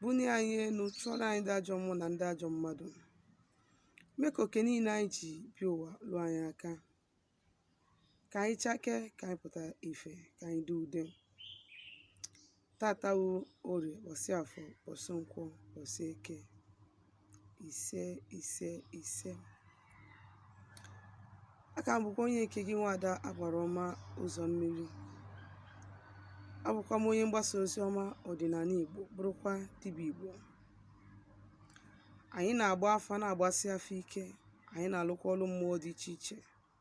bunie anyị elu chụọrọ anyị ndị ajọ mmụọ na ndị ajọ mmadụ mee ka oke niile anyị ji bịa ụwa luo anyị aka ka anyị chakee ka anyị pụta ife ka anyị dị ude tata wu orie ụbọsị afọ ụbọsị nkwọ ụbọsị eke ise ise ise aka m bụkwa onye nke gị nwada agbara ọma ụzọ mmiri abụkwa m onye mgbasa ozi ọma ọdịnala igbo bụrụkwa dibịa igbo anyị na-agba afa na-agbasi afa ike anyị na-alụkwa ọlụ mmụọ dị iche iche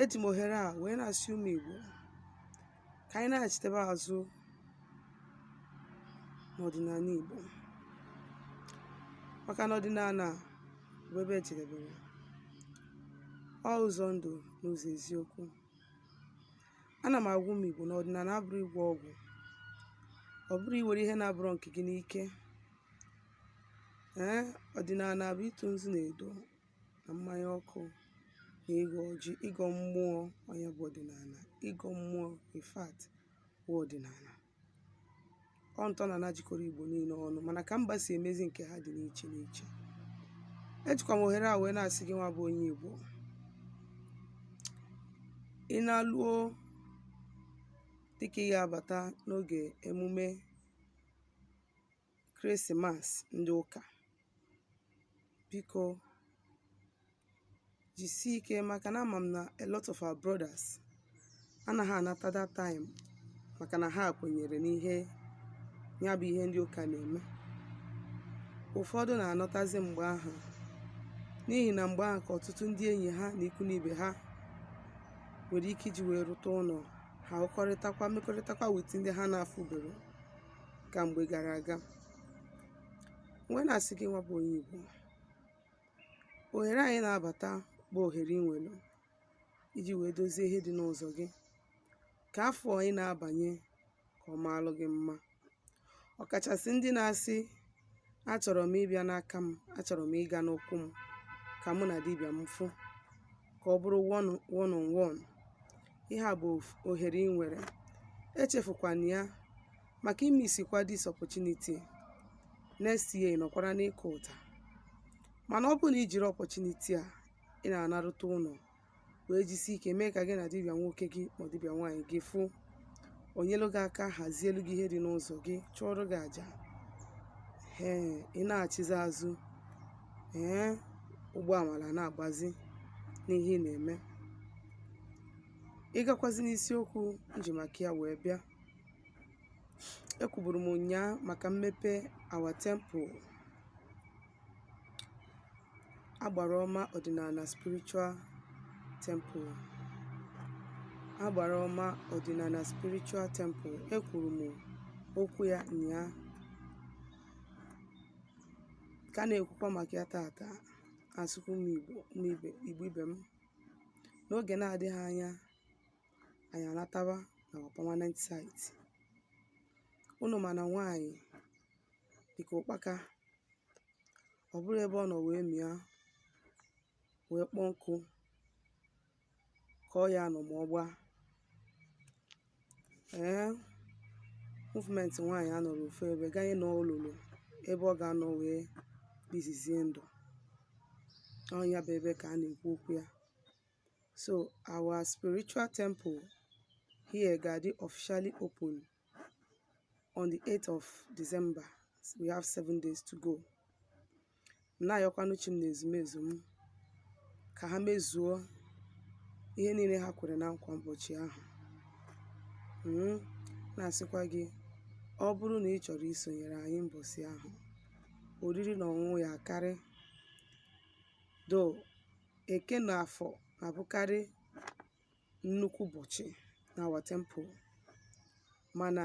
Eji m ohere a wee na-asị ụmụ Igbo ka anyị naghachitebe azụ n'ọdịnala Igbo maka na ọdịnala bụ ebe ejedebere ọ ụzọ ndụ na ụzọ eziokwu ana m agwa ụmụ Igbo na ọdịnala abụrọ ịgwọ ọgwụ ọ bụrọ iwere ihe na-abụrọ nke gị n'ike ee ọdịnala bụ ịtụ nzu na edo na mmanya ọkụ na ịgọ ọjị ịgọ mmụọ ọ nya bụ ọdịnala ịgọ mmụọ in fact bụ ọdịnala ọ ntọnana jikọrọ igbo niile ọnụ mana ka mba si emezi nke ha dị n'iche n'iche ejikwa m ohere a wee na-asị gị nwa bụ onye igbo ị naluo dịka ị ga-abata n'oge emume Krismas ndị ụka. Biko jisie ike maka na ama m na a lot of our brothers anaghị anata that time maka na ha kwenyere n'ihe ya bụ ihe ndị ụka na-eme. Ụfọdụ na-anọtazi mgbe ahụ n'ihi na mgbe ahụ ka ọtụtụ ndị enyi ha na ikwu na ibe ha nwere ike iji wee ruta ụlọ ha hụkọrịtakwa mekọrịtakwa with ndị ha na-afụberọ ka mgbe gara aga wee na-asị gị nwa bụ onye Igbo ohere anyị na-abata bụ ohere ị nwere iji wee dozie ihe dị n'ụzọ gị ka afọ anyị na-abanye ka ọ maalụ gị mma ọkachasị ndị na-asị achọrọ m ịbịa n'aka m achọrọ m ịga n'ụkwụ m ka mụ na dibịa m fụ ka ọ bụrụ one one on one ihe a bụ of- ohere ị nwere echefukwana ya maka ị misikwa this opportunity next year ị nọkwara n'ịkụ ụta mana ọ bụrụ na i jiri opportunity a ị na-anaruta ụlọ wee jisi ike mee ka gị na dibịa nwoke gị ma dibịa nwaanyị gị fụ onyelu gị aka hazielu gị ihe dị n'ụzọ gị chụọrọ gị aja ee ị na-achịzi azụ ee ụgbọ amala na-agbazi n'ihe ị na-eme ịgakwazi n'isiokwu nji maka ya wee bịa ekwuburu m ụnyaa maka mmepe our temple agbara ọma ọdịnala spiritual temple agbara ọma ọdịnala spiritual temple ekwuru m okwu ya nyaa ka na-ekwukwa maka ya taata asịkwa Igbo ibe m n'ogè na-adịghị anya anyị anatawa na our permanent site ụnụ ma na nwaanyị dịka ụkpaka ọ bụrọ ebe ọ nọ wee mịa wee kpọọ nkụ ka ọ ya-anọ ma ọ gbaa ee movement nwaanyị anọrọ ofu ebe ganye na o lulu ebe ọ ga-anọ wee bizizie ndụ ọ nya bụ ebe ka a na-ekwu okwu ya so our spiritual temple here ga-adị officially open on the 8th of December we have seven days to go na-ayọkwanụ chi m na ezumezu m ka ha mezuo ihe niile ha kwere na nkwa ụbọchị ahụ Mm, na-asịkwa gị ọ bụrụ na ị chọrọ isonyere anyị mbọsị ahụ oriri na ọṅụṅụ ya-akarị though Eke na Afọ na-abụkarị nnukwu ụbọchị na our temple mana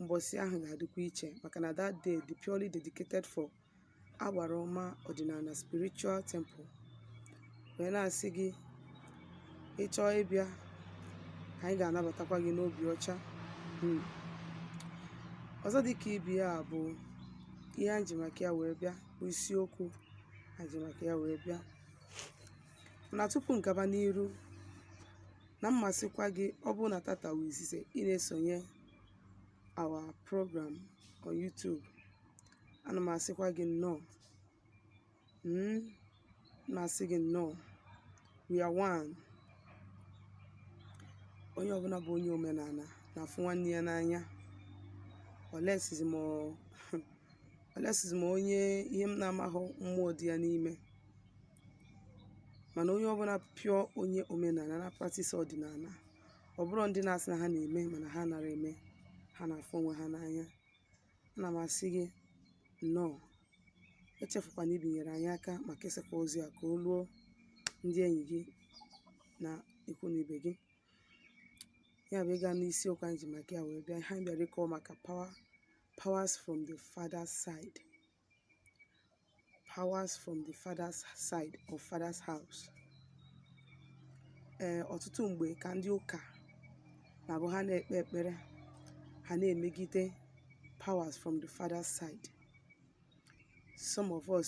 mbọsị ahụ ga-adịkwa iche maka na that day dị purely dedicated for agbara ọma ọdịnala spiritual temple wee na-asị gị ị chọọ ịbịa anyị ga-anabatakwa gị n'obi ọcha hmm. ọzọ dịka ibe ya bụ ihe anyị ji maka ya wee bịa bụ isiokwu anyị ji maka ya wee bịa mana tupu m gaba n'iru ana m asịkwa gị ọ bụrụ na tata wụ izizi ị na-esonye our program on YouTube ana m asịkwa gị nnọọ Mm, na-asị gị nnọọ we are one onye ọbụla bụ onye omenala na-afụ nwanne ya n'anya unless zi ma onye ihe m na-amaghị mmụọ dị ya n'ime mana onye ọbụna pure onye omenana na-practise ọdịnana ọ bụrọ ndị na-asị na ha na-eme mana ha nara eme ha na-afụ onwe ha n'anya ana m asị gị nnọọ echefukwana ibinyere anyị aka ma kesakwa ozi a ka o ruo ndị enyi gị na ikwu na ibe gị ya bụ ịga n'isiokwu anyị ji maka ya wee bịa ha bịara ịkọwa maka powers from the father's side powers from the father's side or father's house ee eh, ọtụtụ mgbe ka ndị ụka na-abụ ha na-ekpe ekpere ha na-emegide powers from the father's side some of us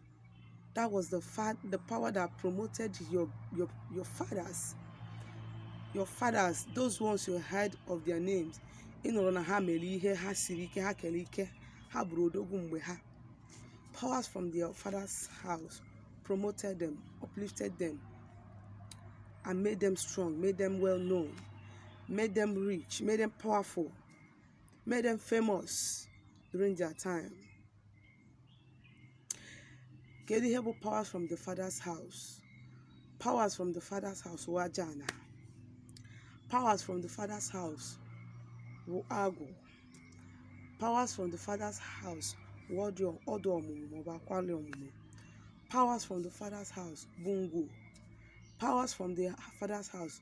That was the, fa- the power that promoted your, your, your fathers. Your fathers, those ones you heard of their names. Ị nụrụ na ha mere ihe ha siri ike ha kere ike ha bụrụ odogwu mgbe ha. Powers from their father's house promoted them, uplifted them, and made them strong, made them well known, made them rich, made them powerful, made them famous during their time. kedu ihe bụ powers from the father's house powers from the father's house wụ aja ana powers from the father's house wụ agwụ powers from the father's house wụ ọda ọmụmụ maọbụ akwali ọmụmụ powers from the father's house bụ ngwu powers from the father's house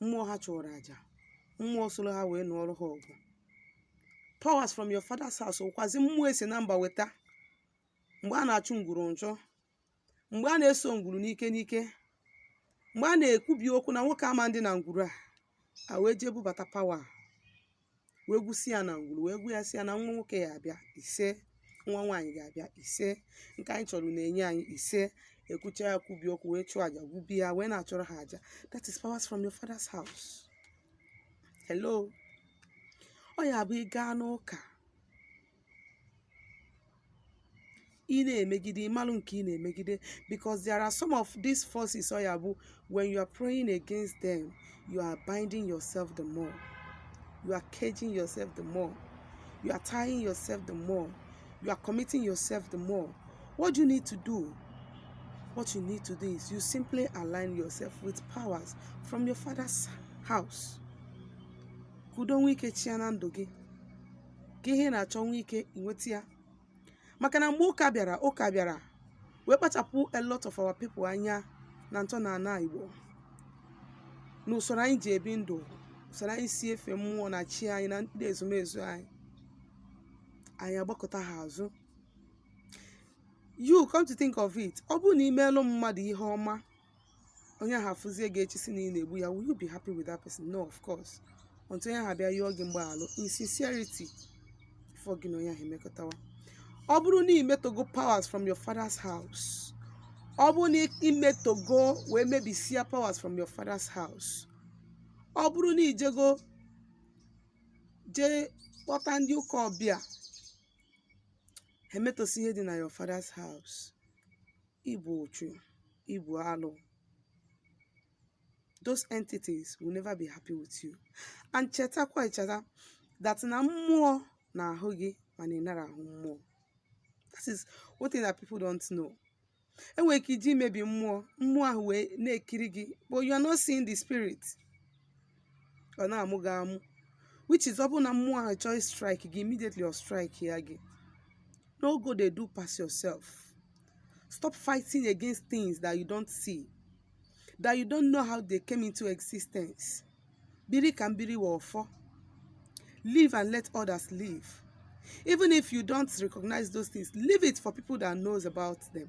mmụọ ha chụrụ aja mmụọ soro ha wee nụọrọ ha ọgụ powers from your father's house wụkwazi mmụọ esi na mba weta mgbe a na-achụ ngwuru nchụ mgbe a na-eso ngwuru n'ike n'ike mgbe a na-ekwubi okwu na nwoke ama ndị na ngwuru a a wee jee bubata power wee gwusi ya na ngwuru wee gwu ya sị ya na nwa nwoke ya abịa isee nwa nwaanyị ga-abịa isee nke anyị chọrọ na-enye anyị isee ekwucha ya kwubi okwu wee chụọ aja gwubi ya wee na-achụrọ ha aja that is powers from your father's house hello ọ ya bụ ị gaa n'ụka ị na-emegide ịmalụ nke ị na-emegide because there are some of these forces ọ ya bụ when you are praying against them you are binding yourself the more you are caging yourself the more you are tying yourself the more you are committing yourself the more what you need to do what you need to do is you simply align yourself with powers from your father's house ka udo nwee ike chịa na ndụ gị ka ihe ị na-achọ nwee ike inweta ya maka na mgbe ụka bịara ụka bịara wee kpachapụ a lot of our people anya na ntọnana Igbo na usoro anyị ji ebi ndụ usoro anyị si efe mmụọ na chi anyị na ndị ezumezu anyị anyị agbakụta ha azụ you come to think of it ọ bụrụ na imeelụ mmadụ ihe ọma onye ahụ afụzie gị echi sị na ị na-egbu ya will you be happy with that person no of course until onye ahụ bịa yọọ gị mgbaghalụ in sincerity before gị na onye ahụ emekọtawa ọ bụrụ na imetogo powers from your father's house ọ bụrụ na imetogo wee mebisie powers from your father's house ọ bụrụ na ijego jee kpọta ndị ụka ọbịa ha emetosi ihe dị na your father's house Ibu ọchụ, ibu alụ. Those entities will never be happy with you. And chetakwa echeta that na mmụọ na-ahụ gị mana ị nara ahụ mmụọ. That is one thing that people don't know. enwere ike iji mebi mmụọ mmụọ ahụ wee na-ekiri gị but you are not seeing the spirit ọ na-amụ gị amụ which is ọ bụrụ na mmụọ ahụ chọọ strike gị immediately ọ strike ya gị no go dey do pass yourself stop fighting against things that you don't see that you don't know how they came into existence biri ka m biri wụ ọfọ live and let others live even if you don't recognize those things leave it for people that knows about them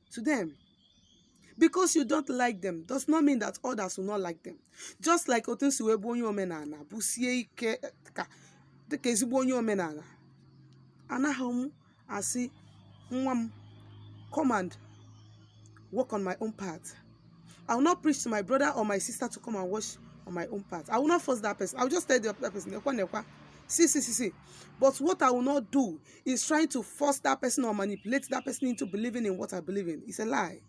to them. Because you don't like them does not mean that others will not like them. Just like otu nsi wee bụ onye omenala bụ sie ike ka dịka ezigbo onye omenala anaghị m asị nwa m come and work on my own path. I will not preach to my brother or my sister to come and watch on my own path. I will not force that person. I will just tell the other person, nekwa nekwa, see, see, see, see. But what I will not do is trying to force that person or manipulate that person into believing in what I believe in. It's a lie.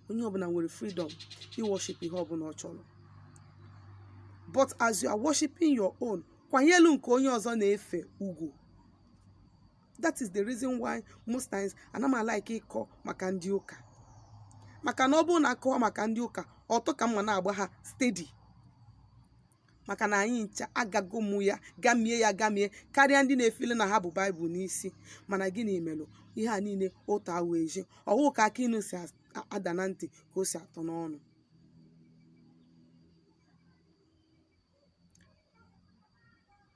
Onye ọbụna nwere freedom i worship ihe ọbụna ọ chọrọ. But as you are worshiping your own, kwanyelu nke onye ọzọ na-efe ugwu. That is the reason why most times ana m like ịkọ maka ndị ụka. Maka na ọ bụrụ na a kọọ maka ndị ụka, ọtọ ka m ma na-agba ha steady. maka na anyị ncha agago mụ ya gamie ya gamie karịa ndị na-efeel na ha bu Bible n'isi mana gịnị melụ ihe a niile otu awụ ezi ọ wụ ka akị inu si ada na ntị ka o si atọ n'ọnụ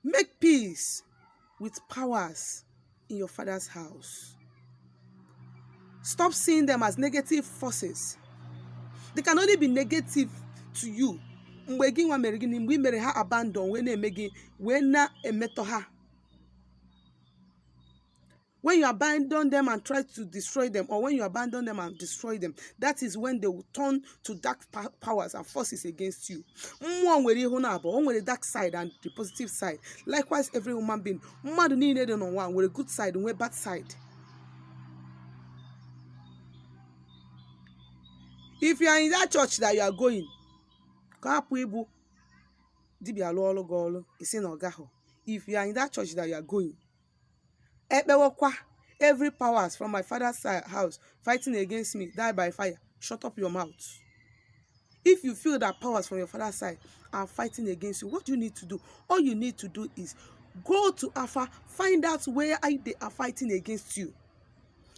Make peace with powers in your father's house. Stop seeing them as negative forces. They can only be negative to you mgbe gị nwa mere gịnị mgbe ị mere ha abandon wee na-eme gịnị wee na-emetọ ha When you abandon them and try to destroy them, or when you abandon them and destroy them, that is when they will turn to dark pa- powers and forces against you. Mmụọ nwere ihu naabụọ, o nwere dark side and the positive side. Likewise, every human being, mmadụ niile dị n'ụwa nwere good side, nwee bad side. If you are in that church that you are going, ka hapụ ịbụ dibịa lụọ ọrụ gị ọrụ, ị sị na ọ gaghị. If you are in that church that you are going, ekpewekwa every powers from my father's si- house fighting against me die by fire shut up your mouth if you feel that powers from your father's side are fighting against you what do you need to do all you need to do is go to afa find out where I- they are fighting against you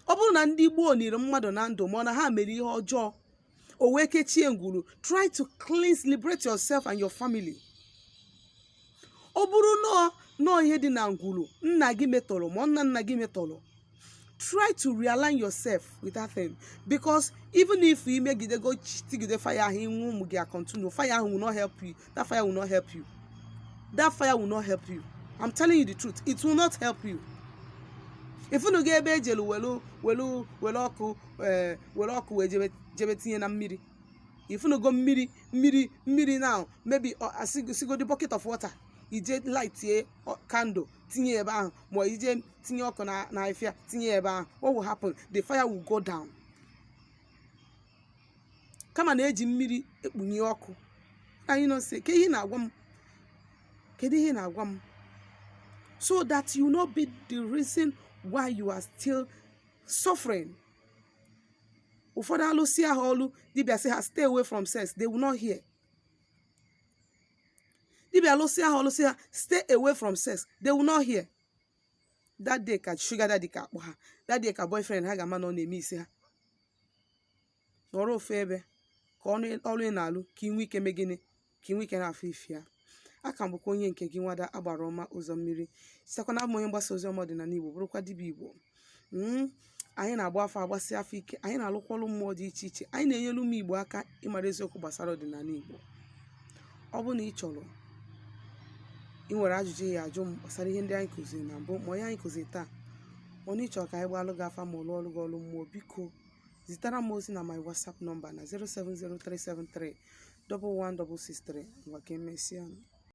ọ bụrụ na ndị gboo niri mmadụ na ndụ ma ọ na ha mere ihe ọjọọ o wee kechie ngwuru try to cleanse liberate yourself and your family ọ bụrụ na ọ na ọ ihe dị na ngwuru nna gị metọrọ ma ọ nna nna gị metọrọ try to realign yourself with that thing because even if i megidego tigide fire ahụ ị nwụọ ụmụ gị a continue fire ahụ will not help you that fire will not help you that fire will not help you i'm telling you the truth it will not help you ị fụnugo ebe e jelu welu welu welu ọkụ ee welu ọkụ wee jebe jebe tinye na mmiri ị fụnugo mmiri mmiri mmiri now maybe ọ- a sị- sịgodi bucket of water i jee lightie candle tinye ebe ahụ ma i jee tinye ọkụ na na afịa tinye ebe ahụ what will happen the fire will go down kama na eji mmiri ekpunye ọkụ anyị nọ sị ka ihe na-agwa m kedu ihe na-agwa m so that you no be the reason why you are still suffering ụfọdụ alụsị ha ọlụ dibịa sị ha stay away from sex they will not hear dibịa alụsị ha ọlụ sị ha stay away from sex they will not hear that day ka sugar daddy ga-akpọ ha that day ka boyfriend ha ga-ama na ọ na-emiss ha nọrọ ofu ebe ka ọlụ ị na-alụ ka ị nwee ike mee gịnị ka ị nwee ike na-afụ ife ya a ka m bụkwa onye nke gị nwada agbara ọma ụzọ mmiri sitekwa na abụ m onye mgbasa ozi ọma ọdịnala igbo bụrụkwa dibịa igbo Mm, anyị na-agba afa agbasi afa ike anyị na-alụkwa ọrụ mmụọ dị iche iche anyị na-enyere ụmụ igbo aka ịmara eziokwu gbasara ọdịnala igbo ọ bụrụ na ị chọrọ ị nwere ajụjụ ị ya-ajụ m gbasara ihe ndị anyị kụziri na mbụ ma ọ nke anyị kụziri taa ọ na ị chọrọ ka anyị gbalụ gị afa ma ọ lụọrụ gị ọrụ mmụọ biko zitara m ozi na my whatsapp nọmba na 07037311663 ngwa ka emesịa